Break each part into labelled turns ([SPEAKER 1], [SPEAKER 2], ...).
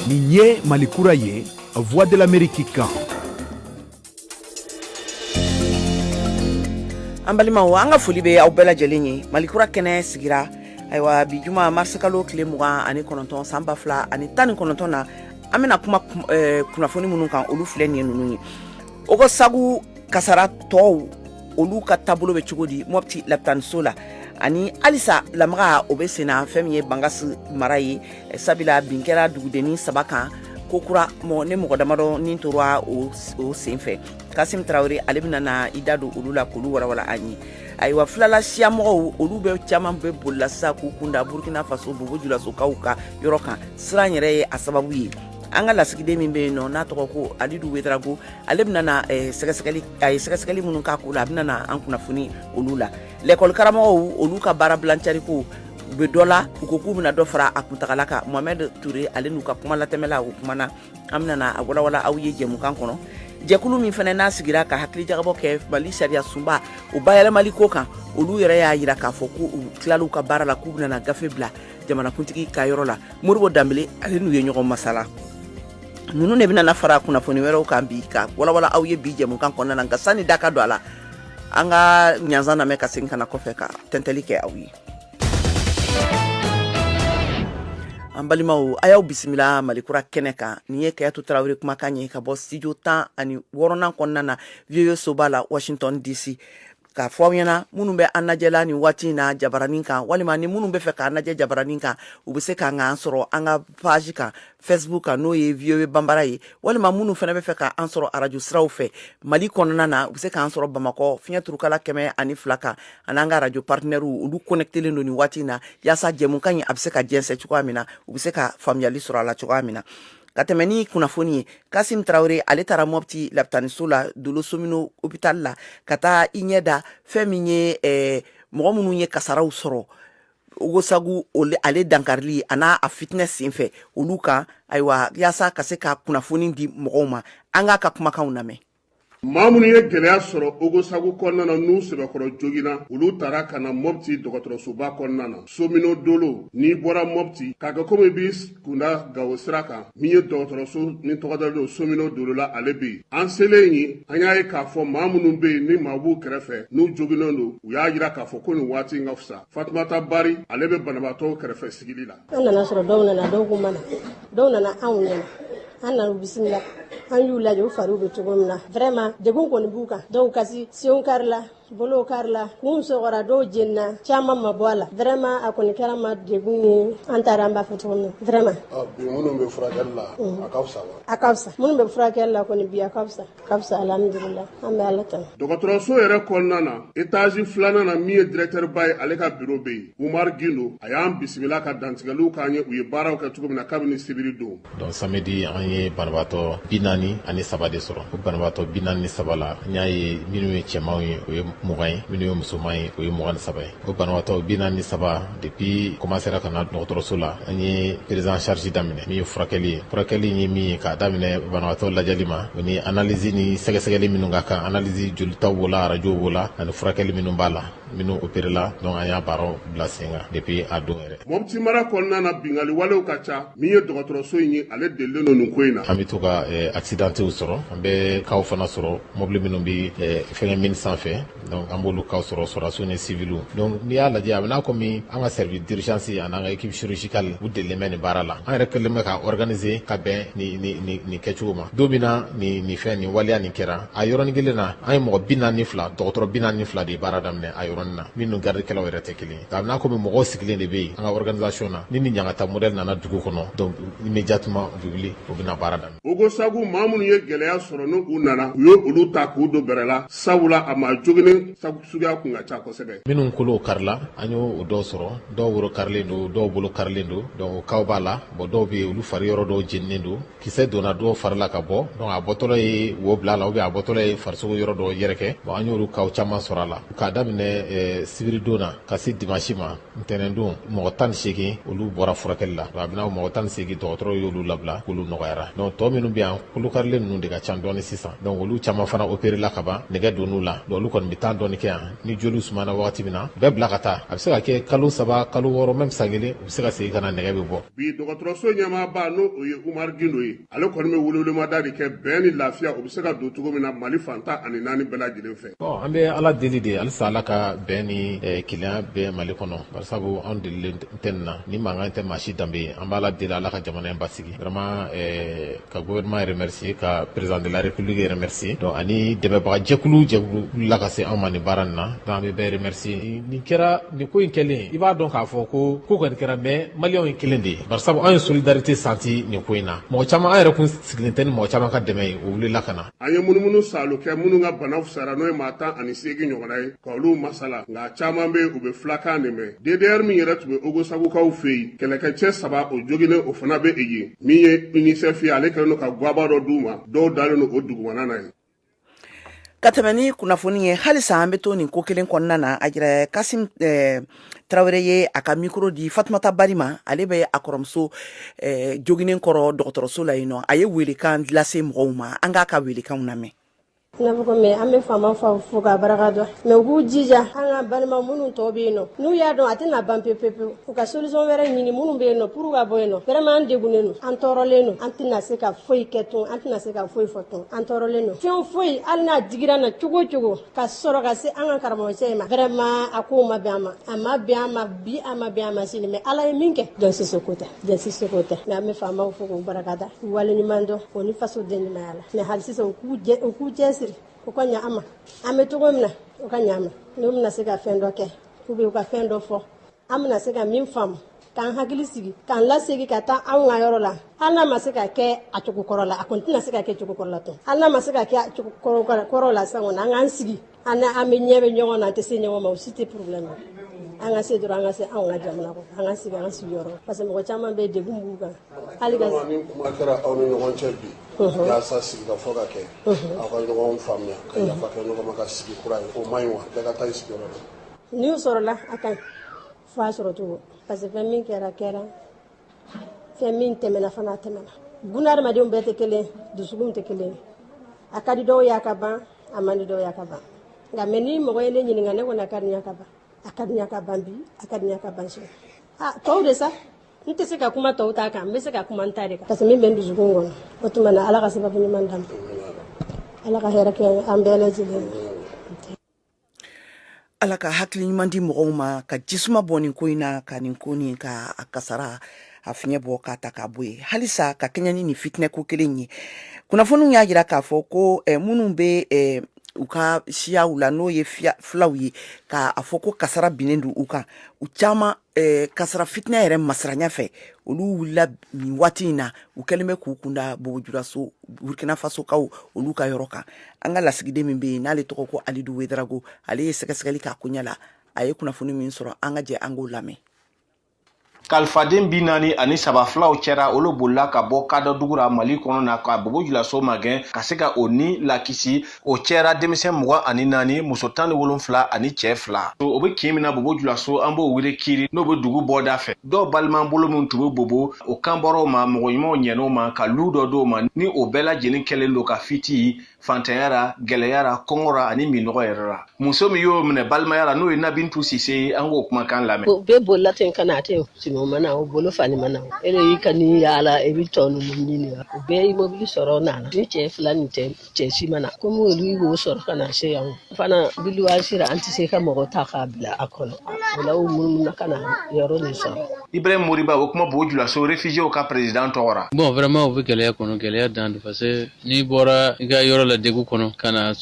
[SPEAKER 1] Nin ye malikura ye la voix de l'amérique kan
[SPEAKER 2] an balimaw an ka foli bɛ aw bɛɛ lajɛlen ye malikura kɛnɛ sigira ayiwa bi juma marisikalo tile mugan ani kɔnɔntɔn san ba fila ani tan ni kɔnɔntɔn na an bɛna kuma eh, kunnafoni minnu kan olu filɛ nin ye ninnu ye ogosagu kasaratɔw olu ka taabolo bɛ cogo di mɔpti lapitaniso la ani halisa lamaga o bɛ senna fɛn min ye bangasi mara ye sabula bin kɛra dugudennin saba kan kokura ni mɔgɔ damadɔ ni tora o sen fɛ kasimu tarawele ale bɛna na i da don olu la k'olu walawala an ye ayiwa filala siya mɔgɔw olu bɛ caman bɛ bolila sisan k'u kunda burukina faso bobo julasokaw ka yɔrɔ kan siran yɛrɛ ye a sababu ye an ka lasigiden min bɛ yen nɔ n'a tɔgɔ ko alidu wedarago ale bɛna eh, sɛgɛsɛgɛli a ye sɛgɛsɛgɛli minnu k'a ko la a bɛna an kunnafoni olu la lɛkɔli karamɔgɔw olu ka baara bilancari ko u bɛ dɔ la u ko k'u bɛna dɔ fara a kuntaala kan Mohamɛdi Ture ale n'u ka kumalatɛmɛla o kumana an bɛna na a walawala aw ye jɛmukan kɔnɔ jɛkulu min fana n'a sigira ka hakilijagabɔ kɛ Mali sariyasunba o bayɛlɛmali ko kan olu yɛrɛ y'a jira k'a fɔ k'u tilala u ka baara la k'u bɛna gafe bila jamanakuntigi ka yɔrɔ la Modibo Danbele ale n'u ye ɲɔgɔn masala ninnu de bɛna fara kunnafoni wɛrɛw kan bi ka walawala aw ye bi jɛmukan kɔnɔna na nka sani da ka don a la an ka ɲanzan lamɛn ka segin ka na kɔfɛ ka tɛntɛli kɛ aw ye An balimaw a y'aw bisimila malikura kɛnɛ kan nin ye kajatu tarawele kumakan ye ka bɔ studio 10 ani wɔɔrɔnan kɔnɔna na VOA soba la Washington DC k'a fɔ aw ɲɛna minnu bɛ an lajɛla nin waati in na jabaranin kan walima ni minnu bɛ fɛ k'an lajɛ jabaranin kan u bɛ se k'an k'an sɔrɔ an ka page kan facebook kan n'o ye VOA bambara ye walima minnu fana bɛ fɛ k'an sɔrɔ arajo siraw fɛ mali kɔnɔna na u bɛ se k'an sɔrɔ bamakɔ fiɲɛturukala kɛmɛ ani fila kan ani an ka arajo partenaires olu kɔnɛkitelen don nin waati in na yaasa jɛmukan in a bɛ se ka jɛsɛn cogoya min na u bɛ se ka faamuyali sɔrɔ a la cogoya min na ka tɛmɛ ni kunnafoni ye kasimu tarawele ale taara mɔpti lapitaniso la dolo somine opitali la ka taa i ɲɛ da fɛn min ye mɔgɔ minnu ye kasaraw sɔrɔ ogosagu ale dankarili a n'a fitinɛ senfɛ olu kan ayiwa yaasa ka se ka kunnafoni di mɔgɔw ma an k'a ka kumakanw lamɛn maa minnu
[SPEAKER 3] ye gɛlɛya sɔrɔ ogosagu kɔnɔna na n'u sɛbɛkɔrɔ joginna olu tara ka na mɔpti dɔgɔtɔrɔsoba kɔnɔna na somine dolo n'i bɔra mɔpti k'a kɛ komi bi kunda gawo sira kan min ye dɔgɔtɔrɔso ni tɔgɔ dalen don somine dolo la ale bɛ yen an selen yen an y'a ye k'a fɔ maa minnu bɛ yen ni maa b'u kɛrɛfɛ n'u joginnen don u y'a jira k'a fɔ ko nin waati in ka fisa fatumata bari ale bɛ banabaatɔw kɛrɛfɛ sigili la an nana sɔrɔ dɔw
[SPEAKER 4] nana dɔw ko mana dɔw nana anw ɲɛna an nana u bisimila an y'u lajɛ u fariw bɛ cogo min na vraiment degun kɔni b'u kan dɔw kasi senw karila bolo karila minnu sɔgɔra dɔw jenina caman ma bɔ a la vrɛma a kɔni kɛra maa degun ye an taara an b'a fɔ cogo min na vrɛma bi minnu bɛ
[SPEAKER 3] furakɛli la a ka fisa wa a ka fisa minnu bɛ
[SPEAKER 4] furakɛli la kɔni bi a ka fisa ka fisa alhamdulila an bɛ ala tanu dɔgɔtɔrɔso yɛrɛ
[SPEAKER 3] kɔnɔna na etazi filanan na min ye dirɛtɛriba ye ale ka biro bɛ yen umar gindo a y'an bisimila ka dantigɛliw k'an ye u ye baaraw kɛ cogo min na kabini sibiri don donc samedi
[SPEAKER 5] an ye banabaatɔ bi naani ani saba de sɔrɔ o banabaatɔ bi naani ni saba la an y'a ye minnu ye cɛmanw ye o ye mugan ye minnu ye musoman ye o ye mugan ni saba ye o banabaatɔ bi naani ni saba depuis komansera ka na dɔgɔtɔrɔso la an ye prise en charge daminɛ min ye furakɛli ye furakɛli ye min ye k'a daminɛ banabaatɔ lajɛli ma o ni analyse ni sɛgɛsɛgɛli minnu ka kan analyse jolitaw b'o la arajow b'o la ani furakɛli minnu b'a la minnu operela donc an y'a baaraw bila sen kan depuis a don yɛrɛ mɔpti mara kɔnɔna
[SPEAKER 3] na bingali walew ka ca min ye dɔgɔtɔrɔso in ye ale delilen don nin ko in na an be to ka eh,
[SPEAKER 5] accidentew sɔrɔ an be kaw fana sɔrɔ mɔbili minnu be eh, fɛngɛ mini san fɛ donc an b'olu kaw sɔrɔ sɔrɔdasiw ni siviliw donc n'i y'a lajɛ a bɛ n'a kɔmi an ka service d'urgence an'an ka équipe chirurgicale u delilen bɛ nin baara la an yɛrɛ kɛlen bɛ ka organise ka bɛn nin kɛcogo ma don min na ni fɛn nin waleya nin kɛra a yɔrɔnin kelen na an ye mɔgɔ bi naani fila dɔgɔtɔrɔ bi naani fila de ye baara daminɛ a yɔrɔnin na min ni garidikɛlaw yɛrɛ tɛ kelen ye a bɛ n'a komi mɔgɔw sigilen de bɛ yen an ka organisation na ni nin ɲangata modɛli nana dugu kɔnɔ donc immédiatement u bɛ wuli u bɛna baara daminɛ ogosagu maa minnu
[SPEAKER 3] ye gɛlɛya sɔrɔ ni u nana u ye olu ta k'u don bɛrɛ la sabula a maa joginen suguya kun ka ca kosɛbɛ minnu kolow
[SPEAKER 5] karila an y'o dɔw sɔrɔ dɔw woro karilen don dɔw bolo karilen don donc o kaw b'a la bon dɔw bɛ yen olu fari yɔrɔ dɔw jeninen don kisɛ donna dɔw fari la ka bɔ donc a bɔtɔlɔ ye wo bila a la ubiyɛn a bɔtɔlɔ ye farisogo yɔrɔ dɔ yɛrɛkɛ bon an y'olu kaw caman sɔrɔ a la k'a daminɛ eh, sibiridon na ka se dimansi ma ntɛnɛndon mɔgɔ tan ni segin olu bɔra furakɛli la a bɛna mɔgɔ tan ni segin dɔgɔtɔrɔw y'olu labila k'olu nɔgɔyara donc tɔ minnu bɛ yan kolokarilen ninnu de ka ca dɔɔni sisan donc olu caman fana operela ka ban nɛgɛ donn'u la donc olu kɔni bɛ tan dɔɔni kɛ yan ni joliw sumana wagati min na bɛɛ bila ka taa a bɛ se ka kɛ kalo saba kalo wɔɔrɔ mɛm san kelen u bɛ se ka segin ka na nɛgɛ bɛ bɔ bi
[SPEAKER 3] dɔgɔtɔrɔso ɲɛmaaba n'o o ye umar gindo ye ale kɔni bɛ welewelemada de kɛ bɛn ni lafiya o bɛ se ka don cogo min na mali fan tan ani naani bɛɛ lajɛlen fɛ an bɛ ala deli
[SPEAKER 5] de halisa ala ka bɛn ni eh, kelenya bɛɛ mali kɔnɔ barisabu an delilen tɛ nin na ni mankan tɛ maa si danbe ye an b'ala deli ala ka jamana in basigi vraiment eh, ka gouvernement remercier ka président de la république remercier donc ani dɛmɛbaga jɛkulu jɛkulu la ka se anw ma nin baara nin na donc an bɛ bɛɛ remercier nin kɛra nin ko in kɛlen i b'a dɔn k'a fɔ ko ko kɔni kɛra mais maliyɛnw ye kelen de ye bari sabu an ye solidarité senti nin ko in na mɔgɔ caman an yɛrɛ kun sigilen tɛ ni mɔgɔ caman ka dɛmɛ ye o wulila ka na an ye munumunu
[SPEAKER 3] saalo kɛ minnu ka bana fusara n'o ye maa tan ani seegin ɲɔgɔnna ye ka olu masala nka caman bɛ u bɛ filakan de mɛn ddr min yɛrɛ tun bɛ ogosagukaw fɛ yen kɛlɛkɛcɛ saba o joginnen o fana bɛ yen min ye UNICEF ye ale kɛlen don ka gwaba dɔ d'u ma dɔw dalen don o dugumana na yen ka
[SPEAKER 2] tɛmɛ ni kunnafoni ye halisa an bɛ to nin ko kelen kɔnɔna na a jira kasim eh, tarawele ye a ka mikro di fatumata bari ma ale bɛ a kɔrɔmuso eh, joginnen kɔrɔ dɔgɔtɔrɔso la yen nɔ a ye welekan lase mɔgɔw ma an k'a ka welekanw lamɛn n'a fɔ ko
[SPEAKER 4] mais an bɛ faamaw fo ka baraka da mais u k'u jija an ka balima minnu tɔ bɛ yen nɔ n'u y'a dɔn a tɛna ban pepepewu u ka solution wɛrɛ ɲini minnu bɛ yen nɔ pour ka bɔ yen nɔ vraiment an degunnen don an tɔɔrɔlen don an tɛna se ka foyi kɛ tun an tɛna se ka foyi fɔ tun an tɔɔrɔlen don fɛn foyi hali n'a digira an na cogo o cogo ka sɔrɔ ka se an ka karamɔgɔcɛ in ma vraiment a ko ma bɛn an ma a ma bɛn an ma bi a ma bɛn an ma sini mais ala ye min kɛ jɔn si seko tɛ jɔn si seko tɛ mais an bɛ faamaw fo k'u baraka da waleɲuman dɔn o ni fasodenɲumanya la mais hali sisan u k'u cɛsiri u ka ɲa an ma an bɛ cogo min na u ka ɲa an ma n'u bɛna se ka fɛn dɔ kɛ ou bien u ka fɛn dɔ fɔ an bɛna se ka min faamu k'an hakili sigi k'an lasegin ka taa anw ka yɔrɔ la hali n'a ma se ka kɛ a cogo kɔrɔ la a kɔni tɛna se ka kɛ cogo kɔrɔ la tun hali n'a ma se ka kɛ a cogo kɔrɔ la sisan kɔni an k'an sigi an an bɛ ɲɛ bɛ ɲɔgɔn na an tɛ se ɲɔgɔn ma o si tɛ problème an ka se dɔrɔn an ka se anw ka jamana kɔnɔ an ka sigi an sigiyɔrɔ parce que mɔgɔ caman bɛ degun b'u kan hali ka ni kuma kɛra aw ni
[SPEAKER 3] ɲɔgɔn cɛ bi yaasa sigikafɔ ka kɛ aw ka ɲɔgɔn faamuya ka yafa kɛ ɲɔgɔn ma ka sigi kura ye o man ɲi wa bɛɛ ka taa i sigiyɔrɔ la n'o sɔrɔla
[SPEAKER 4] a ka ɲi f'a sɔrɔ cogo parce que fɛn min kɛra kɛra fɛn min tɛmɛna fana a tɛmɛna bunadamadenw bɛɛ tɛ kelen dusukunw tɛ kelen a ka di dɔw y'a ka ban a man di dɔw y'a ka ban nka mais ni mɔgɔ ye ne ɲininka ne kɔni a ka di n y'a ka ban a ka di n y'a ka ban bi a ka di n y'a ka ban sini a tɔw de sa n tɛ se ka kuma tɔw ta kan n bɛ se ka kuma n ta de kan parce que min bɛ n dusukun kɔnɔ o tuma na ala ka sababu ɲuman d'an ma ala ka hɛrɛ kɛ an bɛɛ lajɛlen
[SPEAKER 2] ala ka hakili ɲuman di mɔgɔw ma ka jisuma bɔn nin ko in na ka nin ko nin ka a kasara a fiɲɛ bɔ k'a ta k'a bɔ yen halisa ka kɛɲɛ ni nin fitinɛ ko kelen ye kunnafoniw y'a jira k'a fɔ ko eh, minnu bɛ eh, u ka siyaw la n'o ye filaw ye k'a fɔ ko kasara binnen don u kan u caman Eh, kasara fitinɛ yɛrɛ masiranya fɛ olu wulila nin waati in na u kɛlen bɛ k'u kunda bobo julaso burkina fasokaw olu ka yɔrɔ kan an ka lasigiden min bɛ yen n'ale tɔgɔ ko alidu wedrago ale ye sɛgɛsɛgɛli k'a koɲɛ la a ye kunnafoni min sɔrɔ an ka jɛ an k'o
[SPEAKER 6] lamɛn kalifaden bi naani ani saba filaw cɛra olu bolila ka bɔ kadɔ dugu ra mali kɔnɔ na ka bobo julaso magɛn ka se ka o ni lakisi o cɛra denmisɛn mugan ani naani muso tan ni wolonfila ani cɛ fila o bɛ kin min na bobo julaso an b'o wele kiri n'o bɛ dugu bɔda fɛ dɔw balimabolo min tun bɛ bobo o kan bɔr'o ma mɔgɔ ɲumanw ɲɛn'o ma ka lu dɔ d'o ma ni o bɛɛ lajɛlen kɛlen don ka fiti fantanya ra gɛlɛya ra kɔngɔ ra ani minnɔgɔ yɛrɛ ra muso min y'o minɛ balimaya ra n'o ye nabintu sise ye an k'o kumakan lamɛn o bɛɛ bolila ten ka na
[SPEAKER 7] a tɛ simi o ma na o bolo fani ma na o e de y'i ka ni yaala i bɛ tɔ ninnu ɲini wa o bɛɛ ye mobili sɔrɔ o nana ni cɛ fila nin tɛ cɛ si ma na komi olu y'o sɔrɔ ka na se yan fana biliwa sera an tɛ se ka mɔgɔ ta k'a bila a kɔnɔ o la u munumununa ka na yɔrɔ nin sɔrɔ ibrahim moriba o kuma
[SPEAKER 6] bobo julaso réfugiéw ka président tɔgɔra bon vraiment u bɛ gɛlɛya
[SPEAKER 8] kɔnɔ gɛlɛya dan do parce que n'i bɔra i ka yɔrɔ la degu kɔnɔ ka na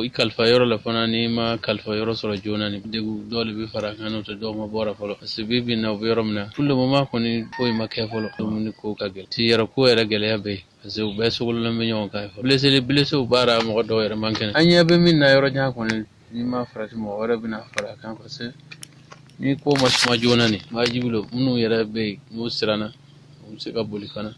[SPEAKER 8] i kalifa yɔrɔ la fana n'i ma kalifa yɔrɔ sɔrɔ joona ni degu dɔ de bɛ fara a kan n'o tɛ dɔ ma bɔ a ra fɔlɔ parce que bi bi na u bɛ yɔrɔ min na pour le moment kɔni foyi ma kɛ fɔlɔ dumuni ko ka gɛlɛn siyɔrɔ ko yɛrɛ gɛlɛya bɛ yen parce que u bɛɛ sogololen bɛ ɲɔgɔn kan blessé blesséw b'a ra mɔgɔ dɔw yɛrɛ man kɛnɛ an ɲɛ bɛ min na yɔrɔ jan kɔni n'i ma farati mɔgɔ wɛrɛ bɛna fara a kan parce que ni ko ma suma joona nin wajibi don minnu yɛrɛ bɛ yen n'u siranna u bɛ se ka boli fana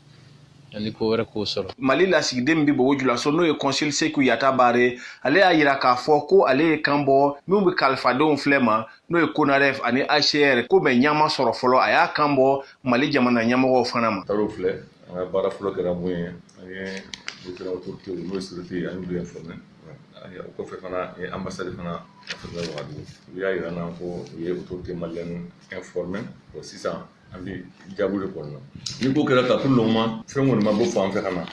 [SPEAKER 8] ani ko wɛrɛ k'o sɔrɔ mali lasigiden min
[SPEAKER 6] bɛ bobo julaso n'o ye consul seku yata baare ale y'a yira k'a fɔ ko ale ye kan bɔ minw bɛ kalifadenw filɛ ma n'o ye conaref ani hcr ko mais ɲa ma sɔrɔ fɔlɔ a y'a kan bɔ mali jamana ɲɛmɔgɔw fana ma filɛ an
[SPEAKER 9] ka baara fɔlɔ kɛra mun ye an ye différents autorités n'o ye sécurité ye an y'olu informé o kɔfɛ fana an ye ambassade fana informé wagadugu u y'a yira n'an ko u ye autorités maliennes informé o sisan an bɛ jaabu de kɔnɔna ni ko kɛra ta pour le moment fɛn kɔni ma bɔ fan fɛ ka na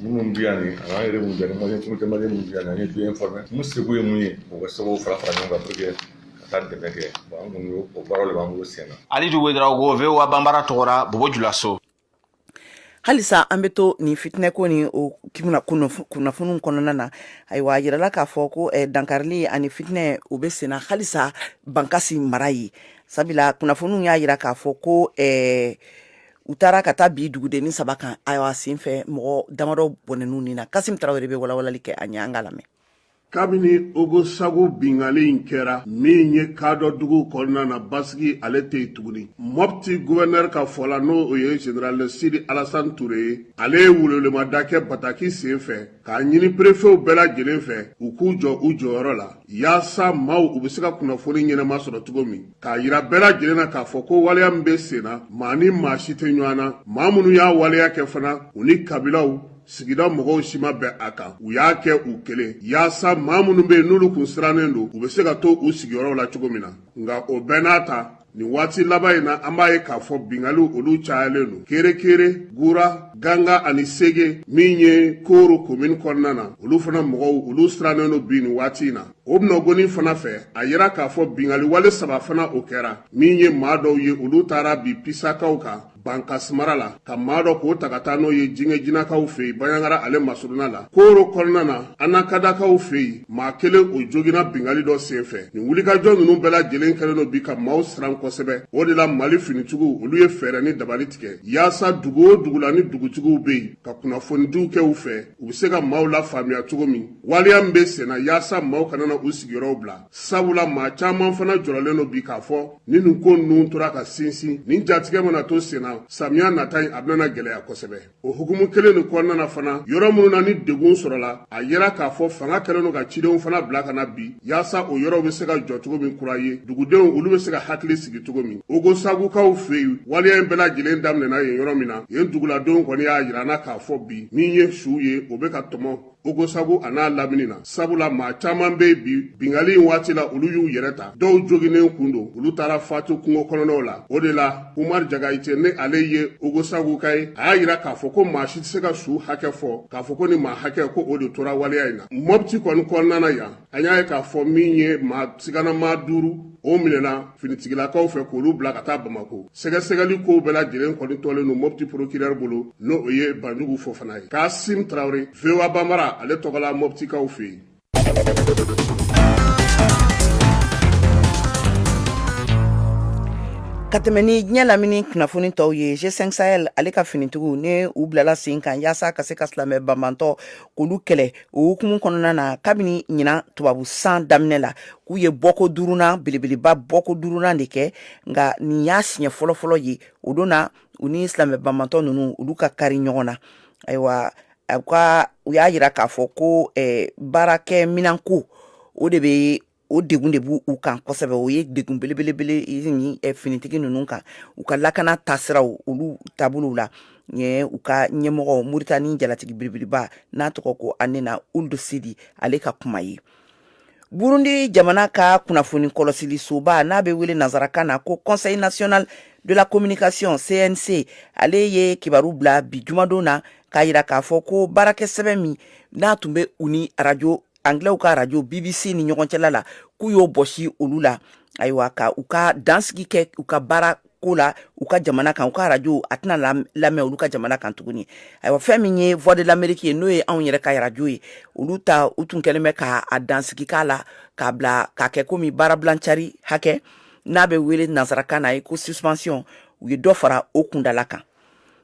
[SPEAKER 9] minnu bɛ yan nin a n'an yɛrɛ mun bɛ yan ni malien minnu bɛ yan nin an ye du informé mun seko ye mun ye o ka se k'o fara fara ɲɔgɔn kan pour que ka taa dɛmɛ kɛ bon an kɔni o baaraw de b'an bolo sen na alidu wedrago
[SPEAKER 6] voa banbara tɔgɔra bobo
[SPEAKER 2] julaso halisa an bɛ to nin fitinɛko ni o kimina kunnafoniw kɔnɔna na ayiwa a yirala k'a fɔ ko eh, dankarili ani fitinɛ o bɛ senna halisa bankasi mara ye sabula kunnafoniw y'a yira k'a fɔ ko eh, u taara ka taa bin dugudenni saba kan ayiwa senfɛ mɔgɔ damadɔ bɔnɛn'u ni na kasim tarawele bɛ walawalali kɛ a ɲɛ an k'a lamɛn
[SPEAKER 3] kabini ogosagu bingali in kɛra min ye kadɔ dugu kɔnɔna na basigi ale tɛ yen tuguni mɔpti guvɛnɛri ka fɔ la n'o o ye general sidi alasan ture ye ale ye welewelemada kɛ bataki sen fɛ k'a ɲini perefew bɛɛ lajɛlen fɛ u k'u jɔ u jɔyɔrɔ la yaasa maaw u bɛ se ka kunnafoni ɲɛnama sɔrɔ cogo min k'a yira bɛɛ lajɛlen na k'a fɔ ko waleya min bɛ sen na maa ni maa si tɛ ɲɔgɔn na maa minnu y'a waleya kɛ fana u ni kabilaw sigida mɔgɔw si ma bɛn a kan u y'a kɛ u kelen yaasa maa minnu be yen n'olu kun sirannen don u be se ka to u sigiyɔrɔw la cogo min na nka o bɛɛ n'a ta nin waati laban in na an b'a ye k'a fɔ bingaliw olu cayalen don kerekere gura ganga ani sege min ye koro komini kɔnɔna na olu fana mɔgɔw olu sirannen don bi nin waati in na o bɛnɔgoni fana fɛ a yira k'a fɔ bingali wale saba fana o kɛra min ye maa dɔw ye olu taara bin pisakaw kan bankasi mara la ka maa dɔ k'o ta ka taa n'o ye jinɛ jinakaw fɛ yen baɲangara ale masuruna la koro kɔnɔna na anakadakaw fɛ yen maa kelen o jogina bingali dɔ sen fɛ nin wulikajɔ ninnu bɛɛ lajɛlen kɛlen don bi ka maaw siran kosɛbɛ o de la mali finitigiw olu ye fɛɛrɛ ni dabali tigɛ yaasa dugu o dugu la ni dugutigiw bɛ yen ka kunnafonidiw kɛ u fɛ u bɛ se ka maaw lafaamuya cogo min waleya min bɛ senna yaasa maaw kana na u sigiyɔrɔw bila sabula maa caman fana jɔrɔlen don bi k'a fɔ ni nin ko ninnu tora ka sinsin nin jatigɛ mana to senna samiya nata in a bɛna gɛlɛya kosɛbɛ o hukumu kelen nin kɔnɔna na fana yɔrɔ minnu na ni degun sɔrɔla a yira k'a fɔ fanga kɛlen don ka cidenw fana bila ka na bi yaasa o yɔrɔw bɛ se ka jɔ cogo min kura ye dugudenw olu bɛ se ka hakili sigi cogo min ogosagukaw fɛ yen waleya in bɛɛ lajɛlen daminɛna yen yɔrɔ min na yen duguladenw kɔni y'a yira an na k'a fɔ bi min ye suw ye o bɛ ka tɔmɔ ogosagu a n'a lamini na sabula maa caaman be bi bingali in waati la olu y'u yɛrɛ ta dɔw joginen kun don olu taara fatu kungo kɔnɔnaw la o de la umar jagayite ni ale ye ogosaguka ye a y'a yira k'a fɔ ko maa si tɛ se ka su hakɛ fɔ k'a fɔ ko nin maa hakɛ ko o de tora waleya in na mɔpti kɔni kɔnɔna na yan an y'a ye k'a fɔ min ye maa siganamaa duuru o minɛna finitigilakaw fɛ k'olu bila ka taa bamako sɛgɛsɛgɛli kow bɛɛ lajɛlen kɔni tolen don mɔpti porokirɛri bolo n'o o ye banjugu fofana ye kasim tarawele voa bambara ale tɔgɔla mɔptikaw fɛ yen
[SPEAKER 2] ka tɛmɛ ni diɲɛ lamini kunnafoni tɔw ye g5 sahel ale ka finitigiw ni u bilala sen kan yaasa ka se ka silamɛ banbantɔ k'olu kɛlɛ o hukumu kɔnɔna na kabini ɲinan tubabu san daminɛ la k'u ye bɔko duurunan belebeleba bɔko duurunan de kɛ nka nin y'a siɲɛ fɔlɔfɔlɔ ye o don na u ni silamɛ banbantɔ ninnu olu ka kari ɲɔgɔn na ayiwa u ka u y'a yira k'a fɔ ko baarakɛminanko o de bɛ o degun de b' u kan kosɛbɛ o ye degun belebelebele finitigi ninnu kan u ka lakana tasira olu taabolo la u ka ɲɛmɔgɔ moritani jalatigi belebeleba n'a tɔgɔ ko hanena ould sidi ale ka kuma ye burundi jamana ka kunnafoni kɔlɔsilisoba n'a bɛ wele nansarakan na ko conseil national de la communication cnc ale ye kibaru bila bi jumadon na k'a jira k'a fɔ ko baarakɛ sɛbɛn min n'a tun bɛ u ni arajo anglɛw ka radio bbc ni ɲɔgɔn cɛla la k'u y'o bɔsi olu la ayiwa ka u ka dansigi kɛ u ka baara ko la u ka jamana kan u ka arajo a tɛna lamɛn olu ka jamana kan tuguni ayiwa fɛn min ye voix de l'amérique ye n'o ye anw yɛrɛ ka arajo ye olu ta u tun kɛlen bɛ ka a dansigi k'a la k'a bila k'a kɛ komi baarabilancari hakɛ n'a bɛ wele nansarakan na ye ko suspension u ye dɔ fara o kuntaala kan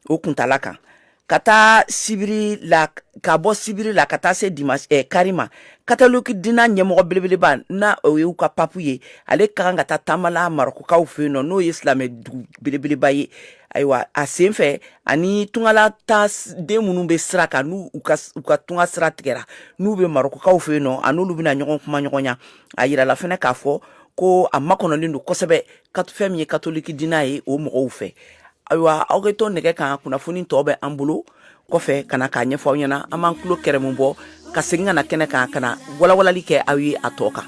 [SPEAKER 2] o kuntaala kan ka taa sibiri la ka bɔ sibiri la ka taa se di eh, kari ma katoliki dina ɲɛmɔgɔ belebeleba n'o y'u ka papu ye ale ka kan ka taa taama la marɔkukaw fɛ yen nɔ n'o ye silamɛ dugu belebeleba ye ayiwa a sen fɛ a ni tunga la taaden minnu bɛ sira kan n'u ka tunga sira tigɛra n'u bɛ marɔkukaw fɛ yen nɔ a n'olu bɛna ɲɔgɔn kumaɲɔgɔnya a yirala fana k'a fɔ ko a makɔnɔlen don kosɛbɛ fɛn min ye katoliki dina ye o mɔgɔw fɛ ayiwa aw ka to nɛgɛ kan kunnafoni tɔ bɛ an bolo kɔfɛ ka na k'a ɲɛfɔ aw ɲɛna an b'an tulo kɛrɛmu bɔ ka segin ka na kɛnɛ kan ka na walawalali kɛ aw ye a tɔ kan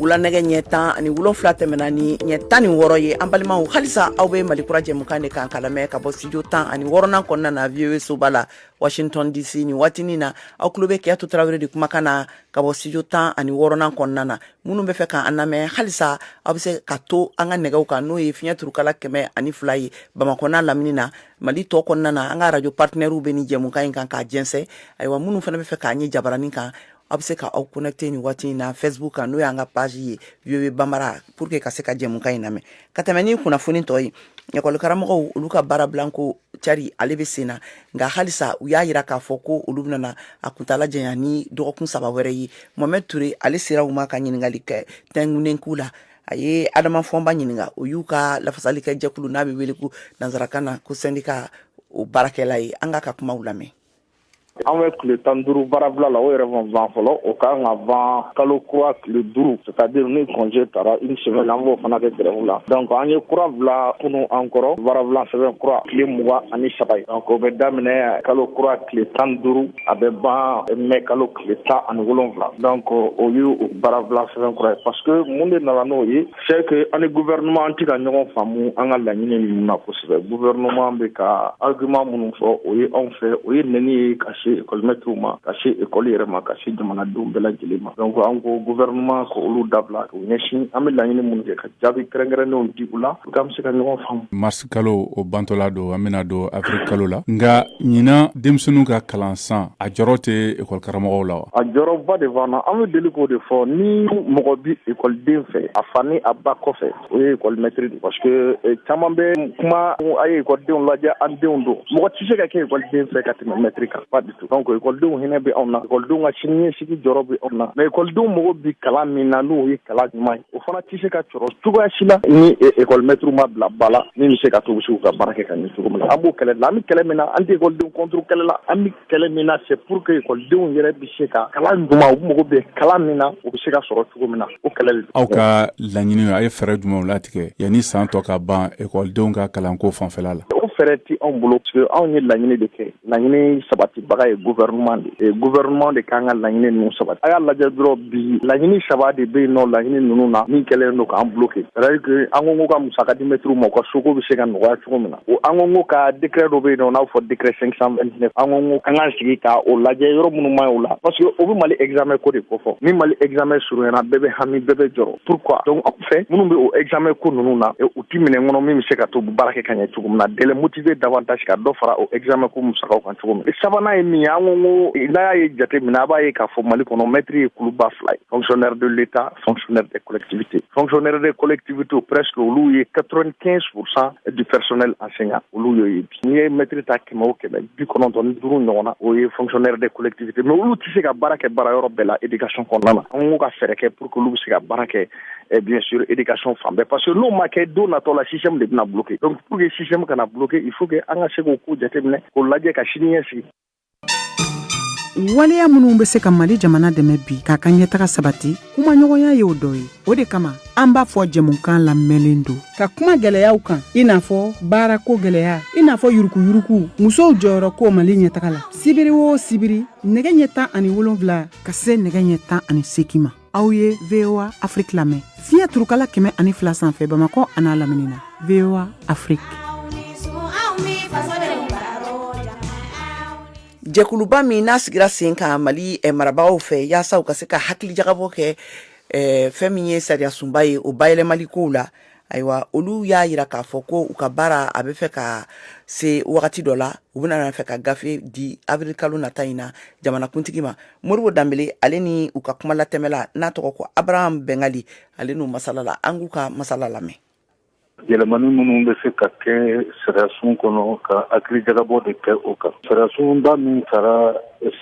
[SPEAKER 2] wula nɛgɛ ɲɛ tan ani wolonfila tɛmɛna ni ɲɛ tan ni wɔɔrɔ ye an balimaw halisa aw bɛ mali kura jɛmukan de kan ka lamɛn ka bɔ studio tan ani wɔɔrɔnan kɔnɔna na voa soba la washington dc nin waati nin na aw tulo bɛ kajatu tarawele de kumakan na ka bɔ studio tan ani wɔɔrɔnan kɔnɔna na minnu bɛ fɛ k'an lamɛn halisa aw bɛ se ka to an ka nɛgɛw kan n'o ye fiɲɛ turukala kɛmɛ ani fila ye bamakɔ n'a lamini na mali tɔ kɔnɔna na an ka radio partenaires bɛ ni jɛmukan in kan k'a jɛnsɛn ayiwa minnu fana bɛ fɛ k'an ye jabaranin kan aw bɛ se ka aw connecter nin waati in na facebook kan n'o y'an ka page ye voa bambara pour que ka se ka jɛmukan in lamɛn ka tɛmɛ ni kunnafoni tɔ ye ekɔli karamɔgɔw olu ka baarabilanko cari ale bɛ sen na nka halisa u y'a jira k'a fɔ ko olu bɛna a kuntaala janya ni dɔgɔkun saba wɛrɛ ye mohamɛd ture ale sera u ma ka ɲininkali kɛ tɛngunen k'u la a ye adama fɔnba ɲininka o y'u ka lafasali kɛ jɛkulu n'a bɛ wele ko nansarakan na ko syndicat o baarakɛla ye an k'a ka kumaw lamɛn an bɛ
[SPEAKER 10] tile tan duuru baarabila la o yɛrɛ ma ban fɔlɔ o ka kan ka ban kalo kura tile duuru c'est à dire ni congé taara une semaine la an b'o fana kɛ grève la donc an ye kura bila kunun encore baarabila sɛbɛn kura tile mugan ani saba ye donc o bɛ daminɛ kalo kura tile tan duuru a bɛ ban mɛ kalo tile tan ani wolonwula donc o ye o baarabila sɛbɛn kura ye parce que mun de nana n'o ye c'est que an ni gouvernement an tɛ ka ɲɔgɔn faamu an ka laɲini ninnu na kosɛbɛ gouvernement bɛ ka argument minnu fɔ o ye anw fɛ o ye nɛni ye ka se ekɔlimɛtiriw ma ka se ekɔli yɛrɛ ma ka se jamanadenw bɛɛ lajɛlen ma donc an ko gouvernement ka olu dabila k'u ɲɛsin an bɛ laɲini minnu kɛ ka jaabi kɛrɛnkɛrɛnnenw di u la K'an bɛ se ka ɲɔgɔn faamu. Mars kalo
[SPEAKER 11] o bantɔla don an bɛna don avril kalo la nka ɲinan denmisɛnninw ka kalan san a jɔrɔ tɛ école karamɔgɔw la wa? A jɔrɔba de b'an na an bɛ deli k'o de fɔ ni mɔgɔ bɛ école den fɛ a fa ni a ba kɔfɛ o ye école maitre de parce que caman bɛ kuma a ye école denw lajɛ an denw don mɔgɔ tɛ se ka kɛ école den fɛ ka tɛmɛ maitre kan pas du tout donc école denw hinɛ bɛ anw na école denw ka siniɲɛsigi jɔrɔ bɛ anw na mais école denw mago bɛ kalan min na n'o ye kalan ɲuman ye. o fana tɛ se ka sɔrɔ cogoya si la ni ekɔlimɛtiriw ma bila ba la min bɛ se ka to u bɛ se k'u ka baara kɛ ka ɲɛ cogo min na an b'o kɛlɛ la an bɛ kɛlɛ min na an tɛ ekɔlidenw contre kɛlɛ la an bɛ kɛlɛ min na c'est pour que ekɔlidenw yɛrɛ bɛ se ka kalan ɲuman u mago bɛ kalan min na u bɛ se k'a sɔrɔ cogo min na o kɛlɛ de aw ka laɲini a ye fɛɛrɛ jumɛnw latigɛ yanni san tɔ ka ban ekɔlidenw ka kalanko fanfɛla la o fɛɛrɛ tɛ anw bolo parce que anw ye laɲini de kɛ laɲini sabatibaga ye gouvernement de ye gouvernement de k'an ka laɲini ninnu sabati a y'a lajɛ dɔrɔn bi laɲini saba de bɛ yen nɔ laɲini ninnu na min kɛlen don k'an bloqué c'est à dire que an ko ko ka musaka di mɛtiriw ma u ka soko bɛ se ka nɔgɔya cogo min na o an ko ko ka décret dɔ bɛ yen nɔ n'a bɛ fɔ décret 529 an ko ko an k'an sigi ka o lajɛ yɔrɔ minnu man ɲi o la parce que o bɛ mali examen ko de kofɔ ni mali examen surunyana bɛɛ bɛ hami bɛɛ bɛ jɔrɔ pourquoi donc fɛ minnu bɛ o examen ko ninnu na u ti minɛ kɔnɔ min bɛ se ka to u bɛ baara kɛ ka ɲɛ cogo min na de les motiver davantage ka dɔ fara o examen ko musakaw kan cogo min sabanan ye min ye
[SPEAKER 10] an ko ko n'a y'a ye jate minɛ a b'a ye k'a fɔ mali kɔnɔ mɛtiri ye kuluba fila ye fonctionnaire de l'état fonctionnaire des collectivités fonctionnaire des collectivités presque olu ye 95 pourcent du personnel enseignant olu y'o ye n'i ye mɛtiri ta kɛmɛ o kɛmɛ bi kɔnɔntɔn ni duuru ɲɔgɔn na o ye fonctionnaire des collectivités mais olu tɛ se ka baara kɛ baara yɔrɔ bɛɛ la éducation kɔnɔna na an k'u ka fɛɛrɛ kɛ pour que olu bɛ se ka baara kɛ eh, bien sûr éducation fan bɛɛ parce que n'o ma kɛ don natɔ la système de bɛna bloquer donc pour que système kana bloquer il faut que an ka se k'o ko jateminɛ k'o lajɛ ka sini ɲɛsigi
[SPEAKER 12] waleya minnu bɛ se ka mali jamana dɛmɛ bi k'a ka ɲɛtaga sabati kumaɲɔgɔnya y'o dɔ ye o de kama an b'a fɔ jɛmukan labɛnlen don ka kuma gɛlɛyaw kan i n'a fɔ baarako gɛlɛya i n'a fɔ yuruguyurugu musow jɔyɔrɔ ko mali ɲɛtaga la sibiri o sibiri nɛgɛ ɲɛ tan ani wolonwula ka se nɛgɛ ɲɛ tan ani seki ma aw ye voa afrique lamɛn fiɲɛ turukala kɛmɛ ani fila sanfɛ bamakɔ a n'a lamini na voa
[SPEAKER 2] afrique jɛkuluba min n'a sigira sen kan mali eh, marabagaw fɛ yaasa u ka se ka hakili jagabɔ kɛ eh, fɛn min ye sariyasunba ye o bayɛlɛmali kow la ayiwa olu y'a yira k'a fɔ ko u ka baara a bɛ fɛ ka se wagati dɔ la u bɛna fɛ ka gafe di avril kalo nata in na jamanakuntigi ma moribo danbele ale ni u ka kuma latɛmɛla n'a tɔgɔ ko abraham bɛngali ale n'u masalala an k'u ka masala lamɛn
[SPEAKER 13] yɛlɛmani minnu bɛ se ka kɛ sariyasun kɔnɔ ka hakili jagabɔ de kɛ o kan sariyasunba min tara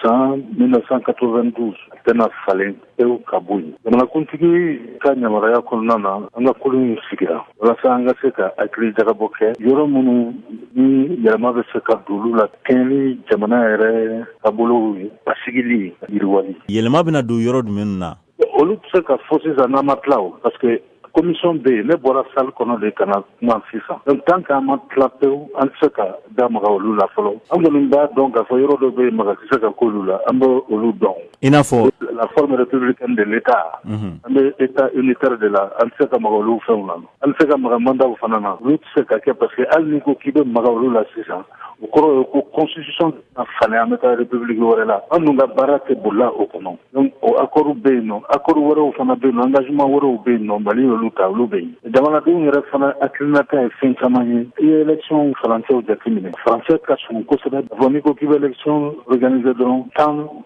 [SPEAKER 13] san 1992 tɛna falen pewu ka bɔ yen jamanakuntigi ka yamaruya kɔnɔna na an ka kulu in sigira walasa an ka se ka hakili jagabɔ kɛ yɔrɔ minnu ni yɛlɛma bɛ se ka d'olu la kɛɲɛ ni jamana yɛrɛ taabolow ye basigili yiriwali yɛlɛma bɛna don yɔrɔ
[SPEAKER 14] jumɛn na olu tɛ se ka fɔ
[SPEAKER 13] sisan n'an ma tila o parce que commission bɛ yen ne bɔra salle kɔnɔ de ka na kuma sisan donc tant qu'an ma tila pewu an tɛ se ka da maga olu la fɔlɔ an kɔni b'a dɔn k'a fɔ yɔrɔ dɔ bɛ yen maga tɛ se ka k'olu la an bɛ olu dɔn i n'a fɔ la
[SPEAKER 14] forme républicaine
[SPEAKER 13] de l'état mhm. an bɛ état unitaire de la an tɛ se ka maga olu fɛnw na an tɛ se ka maga mandaw fana na olu tɛ se ka kɛ parce que hali n'i ko k'i bɛ maga olu la sisan o kɔrɔ ye ko constitution a falen an bɛ taa république wɛrɛ la an dun ka baara tɛ bolila o kɔnɔ donc o accordw bɛ yen nɔ accord wɛrɛw fana bɛ yen nɔ engagement wɛrɛw bɛ yen nɔ mali y'olu ta olu bɛ yen jamanadenw yɛrɛ fana hakilinata ye fɛn caman ye i ye électionw furancɛw jateminɛ furancɛ ka surun kosɛbɛ bon n'i ko k'i bɛ élection organiser dɔrɔn tan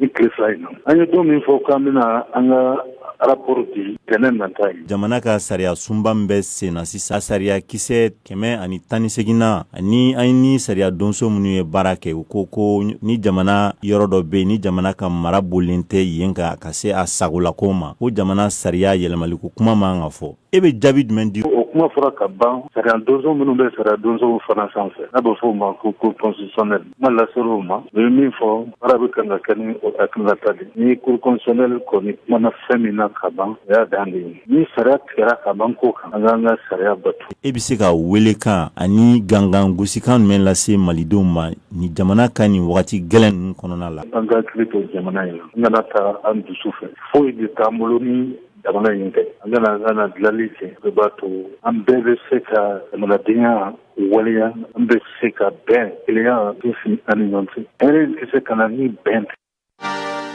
[SPEAKER 13] ni tile fila in na an ye don min fɔ k'an bɛna an ka rapport di tɛnɛ nata ye jamana ka sariya
[SPEAKER 14] sunba min bɛ sen na sisan sariya kisɛ kɛmɛ ani tan ni seegin na ani an ni sariya donso minnu ye baara kɛ u ko ko ni jamana yɔrɔ dɔ bɛ yen ni jamana ka mara bolilen tɛ yen ka ka se a sagolako ma ko jamana sariya yɛlɛmaliko kuma man ka fɔ e bɛ jaabi jumɛn di o kuma fɔra ka
[SPEAKER 13] ban sariya donso minnu bɛ sariya donsow fana sanfɛ n'a bɛ fɔ o ma ko cour constitutionnelle kuma laser'o ma o ye min fɔ baara bɛ kan ka kɛ ni o hakilinata de ni cour constitutionnelle kɔni kumana fɛn min na ka ban o y'a dan de ye ni sariya tigɛra ka ban ko kan an k'an ka sariya bato e bɛ se
[SPEAKER 14] ka weelekan ani gangan gosikan jumɛn lase malidenw ma ni jamana ka nin wagati gɛlɛn ninnu kɔnɔna la an ka hakili to jamana
[SPEAKER 13] in na an kana taa an dusu fɛ foyi de t'an bolo ni jamana in tɛ an ka na an ka na dilanli kɛ o b'a to an bɛɛ bɛ se ka jamanadenya waleya an bɛ se ka bɛn kelenya sinsin an ni ɲɔgɔn cɛ hɛrɛ in tɛ se ka na ni bɛn tɛ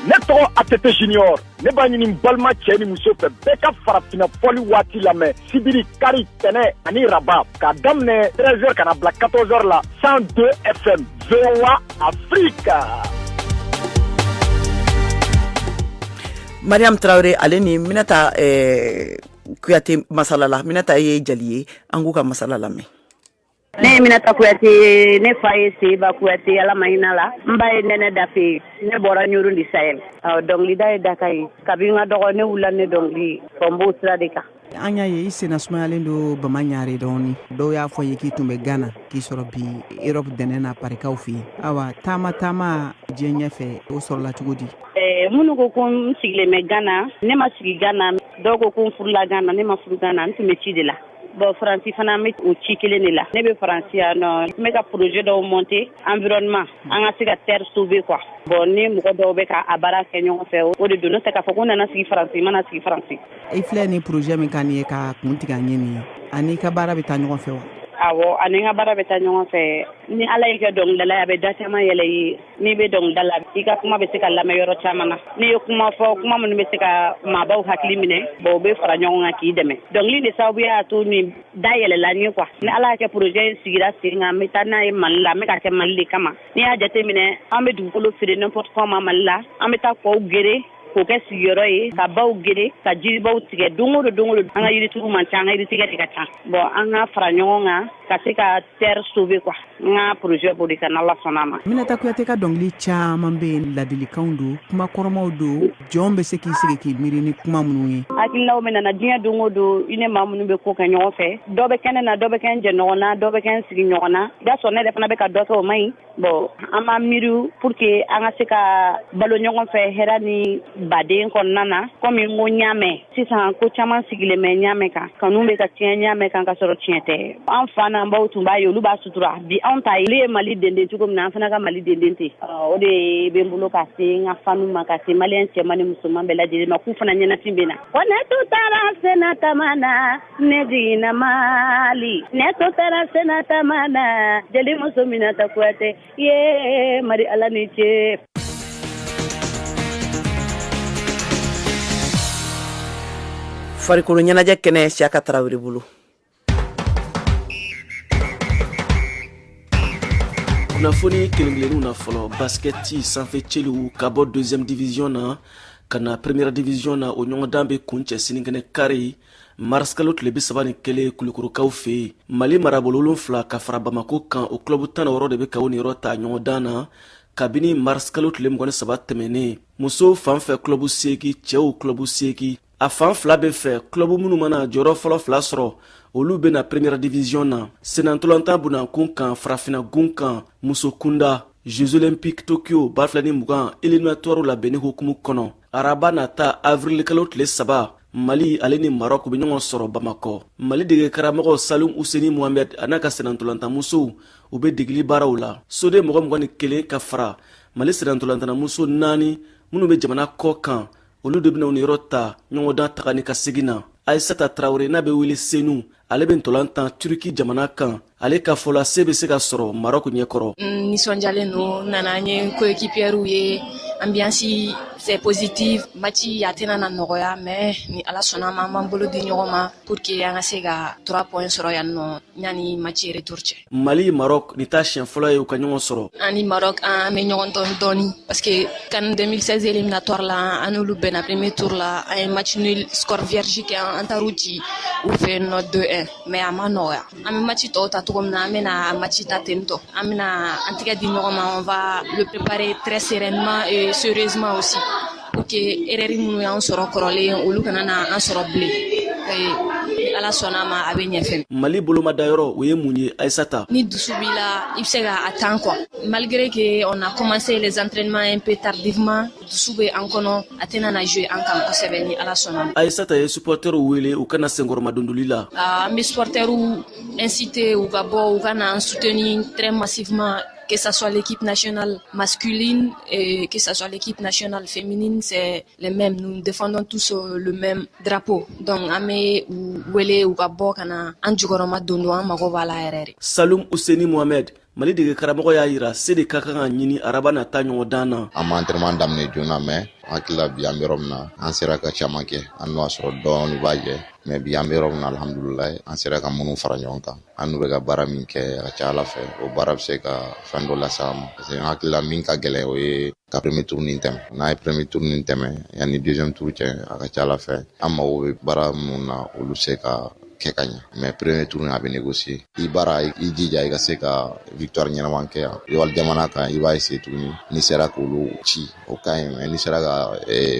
[SPEAKER 13] ne tɔgɔ
[SPEAKER 15] att junior ne b'a ɲini balima cɛ ni muso fɛ bɛɛ ka farafina fɔli waati lamɛn sibiri kari tɛnɛ ani raba k'a daminɛ 13 heures ka n'a bila 14 heures la 102 fm voa afrika
[SPEAKER 2] Mariam tarawele ale ni minata kuyate masalala minata ye jeli ye an k'u ka masala lamɛn ne ye
[SPEAKER 16] minata kuyate ne fa ye seba kuyate ala ma hinɛ a la n ba ye nɛnɛ dafe ne bɔra ɲɔrɔ du sahel dɔnkilida ye dakan ye kabini n ka dɔgɔn ne wulila ne dɔnkili bɔn n b'o sira de kan an y'a ye i
[SPEAKER 12] senna sumayalen don bamaɲare dɔɔni dɔw y'a fɔ n ye k'i tun bɛ gana k'i sɔrɔ bi erɔp dɛnɛ na parikaw fɛ yen awa taama taama diɲɛ ɲɛfɛ o sɔrɔla cogo di eh, minnu ko ko
[SPEAKER 16] n sigilen bɛ gana ne ma sigi gana dɔw ko ko n furula gana ne ma furu gana n tun bɛ ci de la bɔn faransi fana n bɛ o ci kelen de la ne bɛ faransi yan nɔ n bɛ ka projet dɔw monter environnement an ka se ka terre sauver quoi bɔn n ni mɔgɔ dɔw bɛ ka a baara kɛ ɲɔgɔn fɛ o de don n'o tɛ k'a fɔ ko n nana sigi faransi n ma na sigi faransi i filɛ ni
[SPEAKER 12] porozɛ min kan nin ye k'a kuntigiya ɲɛ nin ye a n'i ka baara bɛ taa ɲɔgɔn fɛ wa awɔ a ni n
[SPEAKER 16] ka baara bɛ taa ɲɔgɔn fɛ ni ala y'i kɛ dɔnkilidala ye a bɛ da caman yɛlɛ i ye n'i bɛ dɔnkilida la i ka kuma bɛ se ka lamɛn yɔrɔ caman na n'i ye kuma fɔ kuma minnu bɛ se ka maabaw hakili minɛ bɔn u bɛ fara ɲɔgɔn kan k'i dɛmɛ dɔnkili de sababu y'a to nin da yɛlɛla n ye quoi ni ala y'a kɛ porozɛ in sigira sen kan n bɛ taa n'a ye mali la n bɛ k'a kɛ mali de kama n'i y'a jateminɛ an bɛ dugukolo feere n'importe comment mali la an bɛ taa kɔw geren k'o kɛ sigiyɔrɔ ye ka baw geren ka jiribaw tigɛ don o don don o don an ka yirituru man ca an ka yiritigɛ de ka ca bɔn an ka fara ɲɔgɔn kan ka se ka terre sauver quoi n ka projet b'o de kan n'Ala sɔnna a ma. Minata Kuyate ka dɔnkili
[SPEAKER 12] caman bɛ yen ladilikanw don kuma kɔrɔmaw don jɔn bɛ se k'i sigi k'i miiri ni kuma minnu ye. Hakilinaw bɛ na n na
[SPEAKER 16] diɲɛ don o don i ni maa minnu bɛ ko kɛ ɲɔgɔn fɛ dɔ bɛ kɛ ne na dɔ bɛ kɛ n jɛɲɔgɔn na dɔ bɛ kɛ n sigiɲɔgɔn na i b'a sɔrɔ ne yɛrɛ fana bɛ ka dɔ kɛ o man ɲi bon an b'a miiri pour que an ka se ka balo ɲɔgɔn fɛ hɛrɛ ni baden kɔnɔna na komi n ko n y'a mɛn sisan ko caman sigilen bɛ n y'a mɛn kan kanu bɛ ka tiɲɛ n y'a mɛn kan ka sɔrɔ tiɲɛ tɛ an fa n'an baw tun b'a ye olu b'a sutura bi anw ta olu ye mali denden cogo min na an fana ka mali denden ten o de bɛ n bolo k'a se n ka fanw ma k'a se maliyɛn cɛman ni musoman bɛɛ lajɛlen ma k'u fana ɲɛnafin bɛ n na ko ne tun taara senna taama na ne jiginna Mali ne tun taara senna taama na jelimuso Minata Kuyate ye Mari Ala ni ce.
[SPEAKER 2] farikolo ɲɛnajɛ kɛnɛ Siyaka Tarawele
[SPEAKER 17] bolo. kunnafoni kelenkelenninw na fɔlɔ basikɛti sanfɛcelu ka bɔ deuxième division na ka na première division na o ɲɔgɔndan bɛ kuncɛ sininkɛnɛ kari marisikalo tile bi saba ni kelen kulukorokaw fɛ yen mali marabolo wolonfila ka fara bamako kan o kulɔbu tan ni wɔɔrɔ de bɛ ka u niyɔrɔ ta ɲɔgɔn dan na kabini marisikalo tile mugan ni saba tɛmɛnen musow fan fɛ kulɔbu seegi cɛw kulɔbu seegi a fan fila bɛɛ fɛ kulɔbu minnu mana jɔyɔrɔ fɔlɔ fila sɔrɔ olu bɛ na premiɛrɛ divisiyɔn na senantolantan bonankun kan farafina gun kan muso kunda jeux olympique tokyo ba fila ni mugan eliminatɔrw labɛnni hukumu kɔnɔ araba nata avirilikalo tile saba mali ale ni marɔk be ɲɔgɔn sɔrɔ bamakɔ mali dege karamɔgɔ salum useni mohamɛd a n'a ka senantolantanamusow u be degeli baaraw la soden mɔgɔ mugan ni kelen ka fara mali senantolantanamuso naani minw be jamana kɔ kan olu de bena u niyɔrɔ ta ɲɔgɔndan taga ni ka segin na aisata tarawure n'a be wele senu ale bɛ ntolan tan turiki jamana kan ale ka fɔ la se bɛ se ka sɔrɔ marɔku ɲɛkɔrɔ n nisɔndiyalen
[SPEAKER 18] don n nana n ye koekipiyɛriw ye anbiyansi c'est positif maci a tɛna na nɔgɔya mais ni ala sɔnn'a ma an b'an bolo di ɲɔgɔn ma pour que an ka se ka trois point sɔrɔ yan nɔ yanni maci retour cɛ mali marɔk
[SPEAKER 17] nin t'a siɲɛ fɔlɔ ye u ka ɲɔgɔn sɔrɔ an ni marɔk
[SPEAKER 18] an bɛ ɲɔgɔn dɔn dɔɔni parce que can 2016 eliminatoire la an n'olu bɛnna premier tour la an ye match nul score vierge kɛ an taar'u ci u fɛ yen nɔ 2 1 mais a ma nɔgɔya an bɛ match tɔw ta cogo min na an bɛna match ta ten tɔ an bɛna an tɛgɛ di ɲɔgɔn ma on va le préparer très sereinement et sérieusement aussi pour que erreur minnu y'an sɔrɔ kɔrɔlen olu kana na an sɔrɔ bilen ala sɔnn'a ma a bɛ ɲɛfɛ mali bolomadayɔrɔ
[SPEAKER 17] o ye mun ye aisata ni dusu b'i la
[SPEAKER 18] i bɛ se ka a tan kɔ malgré que on a commencé les entraînements un peu tardivement dusu bɛ an kɔnɔ a tɛna na jouer an kan kosɛbɛ ni ala sɔnn'a ma aisata ye
[SPEAKER 17] supportɛrw wele u ka na senkɔrɔmadondoli la an bɛ supportɛrw
[SPEAKER 18] inciter u ka bɔ u ka na an soutenir très massivement que ça soit l'équipe nationale masculine et que ça soit l'équipe nationale féminine, c'est les mêmes. Nous défendons tous euh, le même drapeau. Donc, an bɛ u wele u ka bɔ ka na an jukɔrɔmadondon an mago b'a la yɛrɛ dɛ. Saloum Ouseni
[SPEAKER 17] Mohamed. mali dege karamɔgɔ y'a yira se de ka kan ka ɲini araba nata ɲɔgɔn dan na an ma antɛrɛman
[SPEAKER 19] daminɛ joona mais an hakili la bi an bɛ yɔrɔ min na an sera ka caman kɛ hali n'o y'a sɔrɔ dɔɔni b'a jɛ mais bi an bɛ yɔrɔ min na alhamdulilayi an sera ka minnu fara ɲɔgɔn kan an n'u bɛ ka baara min kɛ a ka ca ala fɛ o baara bɛ se ka fɛn dɔ lase an ma parce que an hakili la min ka gɛlɛn o ye ka premier tour nin tɛmɛ n'an ye premier tour nin tɛmɛ yanni deuxième tour cɛ a ka ca ala fɛ an mago bɛ baara minnu na olu se ka kɛ ka ɲɛ mais premier tour in a bɛ négocier i baara i jija i ka se ka victoire ɲɛnama kɛ yan wali jamana kan i b'a essayer tuguni n'i sera k'olu ci o ka ɲi mais n'i sera ka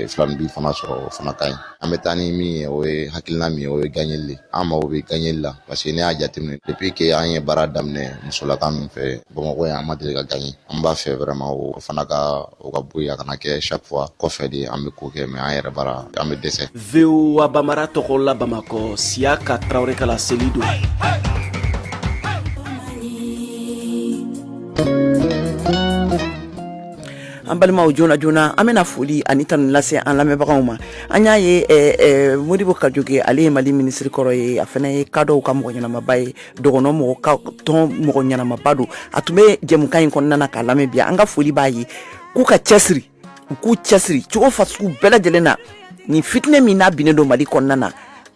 [SPEAKER 19] filaninbin fana sɔrɔ o fana ka ɲi an bɛ taa ni min ye o ye hakilina min ye o ye ganyeli le an mago bɛ ganyeli la parce que ne y'a jateminɛ depuis que an ye baara daminɛ musolaka ninnu fɛ bamakɔ yan an ma deli ka ganye an b'a fɛ vraiment o fana ka o ka bɔ yen a kana kɛ chaque fois kɔfɛ de an bɛ ko kɛ mais an
[SPEAKER 17] yɛrɛ
[SPEAKER 19] bara an
[SPEAKER 17] bɛ
[SPEAKER 19] dɛsɛ voa
[SPEAKER 17] bambara
[SPEAKER 19] tɔgɔ
[SPEAKER 17] la
[SPEAKER 19] bamakɔ siyaka
[SPEAKER 17] tarawele ka laseli don
[SPEAKER 2] an balimaw joona joona an bɛna foli ani tanu lase an lamɛnbagaw ma an y'a ye eh, eh, modibo kajoke ale ye mali minisiri kɔrɔ ye a fana ye kadɔw ka mɔgɔ ɲɛnamaba ye dɔgɔnɔ mɔgɔ ka tɔn mɔgɔ ɲɛnamaba don a tun bɛ jɛmukan in kɔnɔna na k'a lamɛn bi an ka foli b'a ye k'u ka cɛsiri u k'u cɛsiri cogo fasugu bɛɛ lajɛlen na nin fitinɛ min n'a binnen don mali kɔnɔna na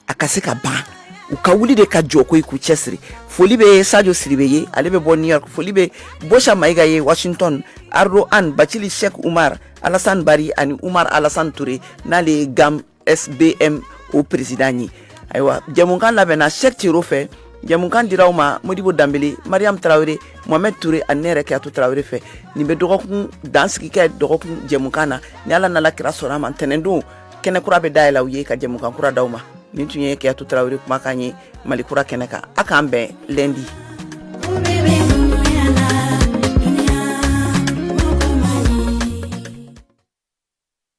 [SPEAKER 2] a ka se ka ban u ka wuli de ka jɔ ko i k'u cɛsiri foli bɛ sajo sidibe ye ale bɛ bɔ new york foli bɛ bosa mayiga ye washington ardo an bacili sheikh umar alasan bari ani umar alasan ture n'ale ye gam sbm o peresidan ye ayiwa jɛmukan labɛnna sheikh tiero fɛ jɛmukan dira aw ma modibo danbele mariam tarawele mohamɛd ture ani ne yɛrɛ kajatu tarawele fɛ nin bɛ dɔgɔkun dansigi kɛ dɔgɔkun jɛmukan na ni ala n'a la kira sɔnna a ma ntɛnɛndon kɛnɛ kura bɛ dayɛlɛ aw ye ka jɛmukan kura d'aw ma nin tun ye kajatu tarawele kumakan ye mali kura kɛnɛ kan a k'an bɛn lundi